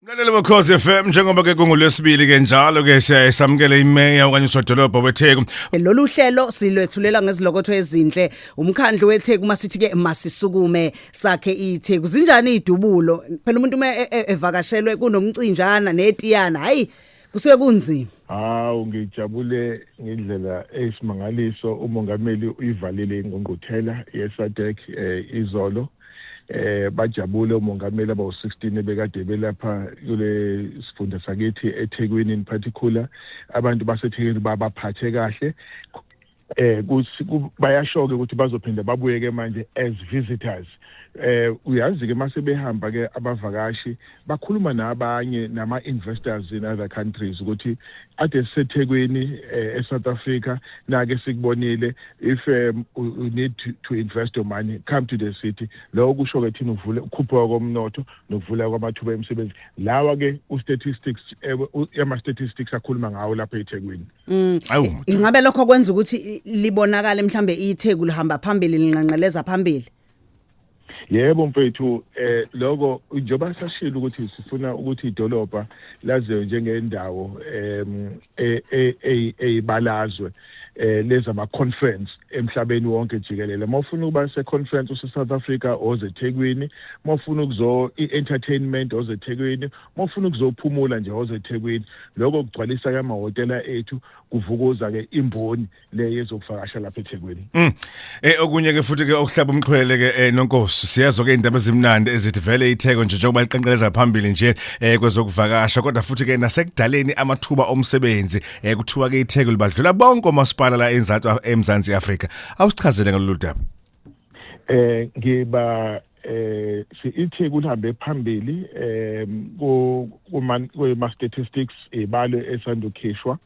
Mlaleli wekhosi FM njengoba ke kungolwesibili ke njalo ke siyaye samukele imeya okanye usodolobha weTheku. Lolu hlelo silwethulela ngezilokotho ezinhle. Umkhandlu weTheku uma sithi ke masisukume sakhe iTheku. Zinjani idubulo? Phela umuntu uma e- e- evakashelwe kunomcinjana netiyana. Hayi kusuke kunzima hawu ngijabule ngendlela eyisimangaliso umongameli uyivalile ingqungquthela yesadec um eh, izolo eh bajabule umongameli abawu-16 ebekade belapha kule sifunda sakithi ethekwini in particular abantu basethekwini babaphathe kahle eh bayashoke ukuthi bazophinde babuyeke manje as visitors eh uyazi ke mase behamba ke abavakashi bakhuluma nabanye nama investors in other countries ukuthi ade sisethekwini eh, e South Africa nake sikubonile if um, you need to, to invest your money come to the city lokho kusho ke thina uvule ukhuphuka komnotho nokuvula kwamathuba emisebenzi lawa ke u statistics eh, ama statistics akhuluma ngawo lapha eThekwini Mm. Ingabe lokho kwenza ukuthi libonakale mhlambe itheku lihamba phambili linqanqeleza phambili. Yebo mfethu eh lokho njoba sashilo ukuthi sifuna ukuthi idolobha laziwe njengendawo em e, e, e, eyibalazwe eh leza ma conference emhlabeni wonke jikelele mawufuna ukuba se conference use South Africa oze eThekwini mawufuna ukuzo i entertainment oze eThekwini uma ufuna ukuzophumula nje woze ethekwini lokho kugcwalisa ke amahhotela ethu kuvukuza ke imboni le yezokuvakasha lapha ethekwini mm. eh okunye ke futhi ke okuhlaba umxhwele ke eh, nonkosi siyezwa ke indaba ezimnandi ezithi vele itheko nje njengoba liqenqeleza phambili nje eh, kwezokuvakasha kodwa futhi ke nasekudaleni amathuba omsebenzi eh, kuthiwa ke itheko libadlula bonke omasipala la eMzansi Afrika awusichazele ngalolu daba eh ngiba eh sithi kuhambe phambili eh kuma statistics ibalo esandukhishwa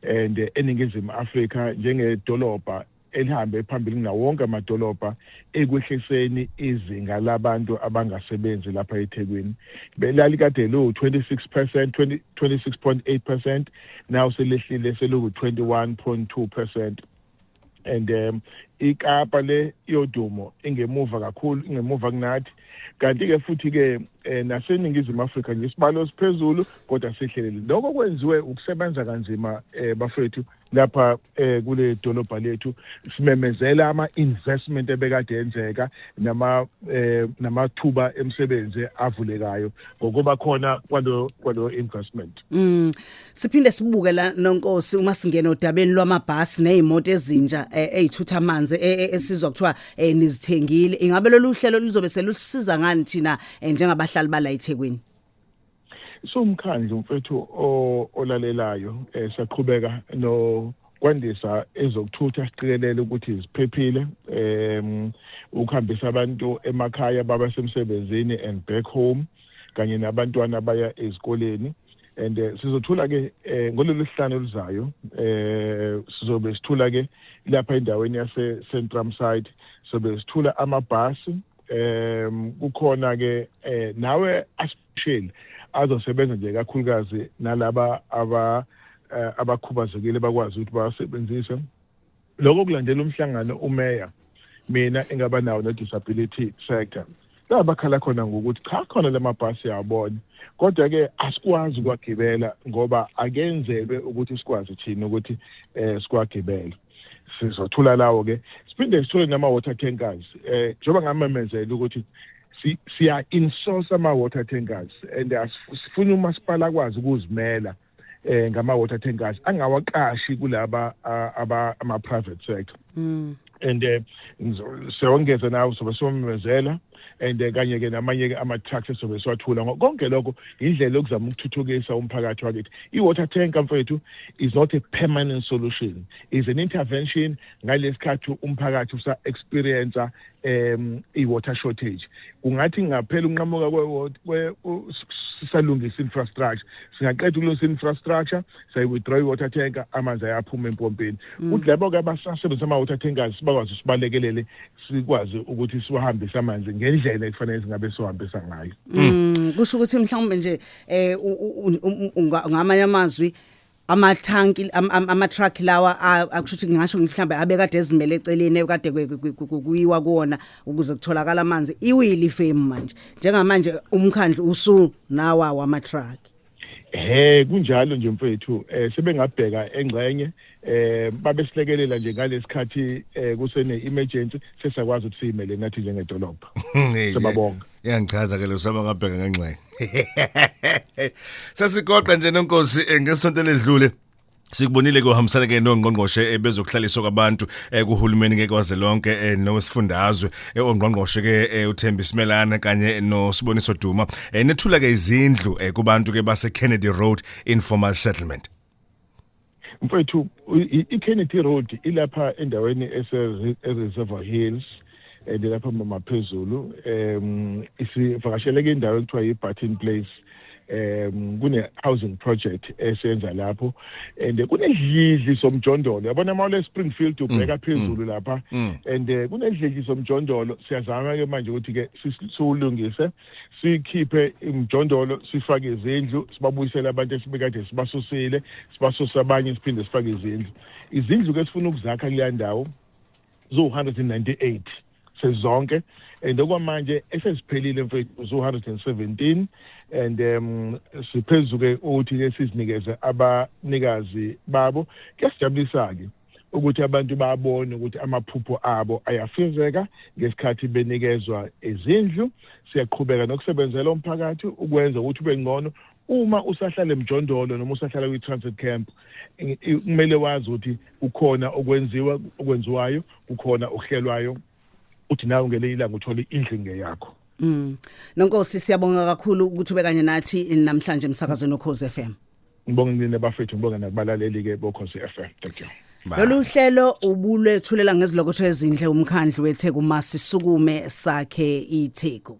and eningizimu Afrika njengedolobha elihambe phambili ngawo wonke amadolobha ekwehliseni izinga labantu abangasebenzi lapha eThekwini belalikade lu 26% 26.8% now selehlile selu 21.2% and um ikapa le yodumo ingemuva kakhulu ingemuva kunathi kanti ke futhi ke eh, naseningizimu Afrika nje isibalo siphezulu kodwa sihleleli lokho kwenziwe ukusebenza kanzima eh, bafethu lapha eh, kule dolobha lethu simemezela ama investment ebekade enzeka nama eh, namathuba emsebenze avulekayo ngokuba khona kwalo kwalo investment Mm. Siphinde sibuke la nonkosi uma singena odabeni lwamabhasi nezimoto ezintsha eh, ezithutha amanzi eh, eh, esizwa kuthiwa nizithengile. Ingabe lolu hlelo lizobe selusiza ngani thina njengabahlali bala eThekwini? Sumkhandlu mfethu olalelayo siyaqhubeka no kwandisa ezokuthutha siqikelele ukuthi ziphephile um ukuhambisa abantu emakhaya baba semsebenzini and back home kanye nabantwana abaya ezikoleni and uh, sizothula ke eh, ngololu sihlanu oluzayo eh sizobe sithula ke lapha endaweni yase Centrum side sobe sithula amabhasi em kukhona ke eh, nawe asisheli azosebenza nje kakhulukazi nalaba aba eh, abakhubazekile bakwazi ukuthi basebenzise Lokho kulandela umhlangano umeya mina engaba nawo ne-disability sector la bakhala khona ngokuthi cha khona la mabhasi yabona kodwa-ke asikwazi ukuwagibela ngoba akenzelwe ukuthi sikwazi thina ukuthi um sikwagibele sizothula lawo-ke siphinde sithole nama-water tankers um njengoba ngamemezela ukuthi siya-insource ama-water tankers and sifuna umasipala akwazi ukuzimela eh ngama water tankers angawaqashi kulaba aba ama private sector mm. and eh, sewongeza nawo sobe somemezela and eh, kanye ke namanye ke ama trucks esobe siwathula konke lokho indlela yokuzama ukuthuthukisa umphakathi wakithi i water tank mfethu is not a permanent solution is an intervention ngalesikhathi umphakathi usa experience um i-water shortage kungathi ngaphela unqamuka sisalungisa infrastructure singaqeda ukulungisa infrastructure sayi-withdraw i-water tanker amanzi ayaphuma empompini mm. kuthi labo-ke abasasebenzisa ama-water tankers bakwazi usibalekelele sikwazi ukuthi siwahambise amanzi ngendlela ekufanele singabe siwahambisa ngayo mm, kusho ukuthi mhlawumbe nje um ngamanye amazwi amathanki am- am- amatruck lawa a- akusho ukuthi ngingasho mhlawumbe abekade ezimele eceleni ekade kwe- kwe- kwe- kuyiwa kuwona ukuze kutholakala amanzi iwile ifemu manje njengamanje umkhandlu usu nawa wamatruck he kunjalo nje mfethu eh sebengabheka engxenye eh babesilekelela nje ngalesikhathi eh kusene emergency sesakwazi ukuthi siyimele nathi njengedolobha Hey, Siyababonga. yangichaza ke losama ngabheka ngengxenye sesigoqa nje nonkosi eh, ngesonto ledlule Sikubonile ke uhambisana ke nongqongqoshe eh, bezokuhlaliswa kwabantu eh, kuhulumeni ke kwaze lonke eh, nowesifundazwe ongqongqoshe ke uThembi Simelana kanye noSiboniso Duma nethula ke izindlu kubantu ke base Kennedy Road informal settlement mfethu i-kennedy road ilapha endaweni ese-reservoir hills and lapha maphezulu um isivakasheleke indawo ekuthiwa yi-barton place um kune-housing project esenza lapho and kunedlidli somjondolo yabona uma ulespringfield mm, ubheka mm, phezulu lapha mm. and eh, kunedlidli somjondolo siyazama-ke manje ukuthi-ke siwulungise sikhiphe imjondolo sifake izindlu sibabuyisele abantu esibekade sibasusile sibasuse abanye siphinde sifake izindlu izindlu ke sifuna ukuzakha kuleya ndawo ziwu-198 sezonke and okwamanje eseziphelile mfethu zu-117 and um siphezu-ke ukuthi ke sizinikeze abanikazi babo kuyasijabulisa-ke ukuthi abantu babone ukuthi amaphupho abo ayafezeka ngesikhathi benikezwa izindlu siyaqhubeka nokusebenzela umphakathi ukwenza ukuthi ube ngcono uma usahlala emjondolo noma usahlala kwi-transit camp kumele wazi ukuthi kukhona okwenziwa okwenziwayo kukhona okuhlelwayo uthi nawe ngelinye ilanga uthole indlu ingeyakho mm nonkosi siyabonga kakhulu ukuthi ube kanye nathi namhlanje emsakazweni okhoze FM ngibonga nina bafethu ngibonga nakubalaleli ke bokhoze FM thank you Lolu hlelo ubulethulela ngezilokotho ezinhle umkhandlu weTheku masisukume sakhe iTheku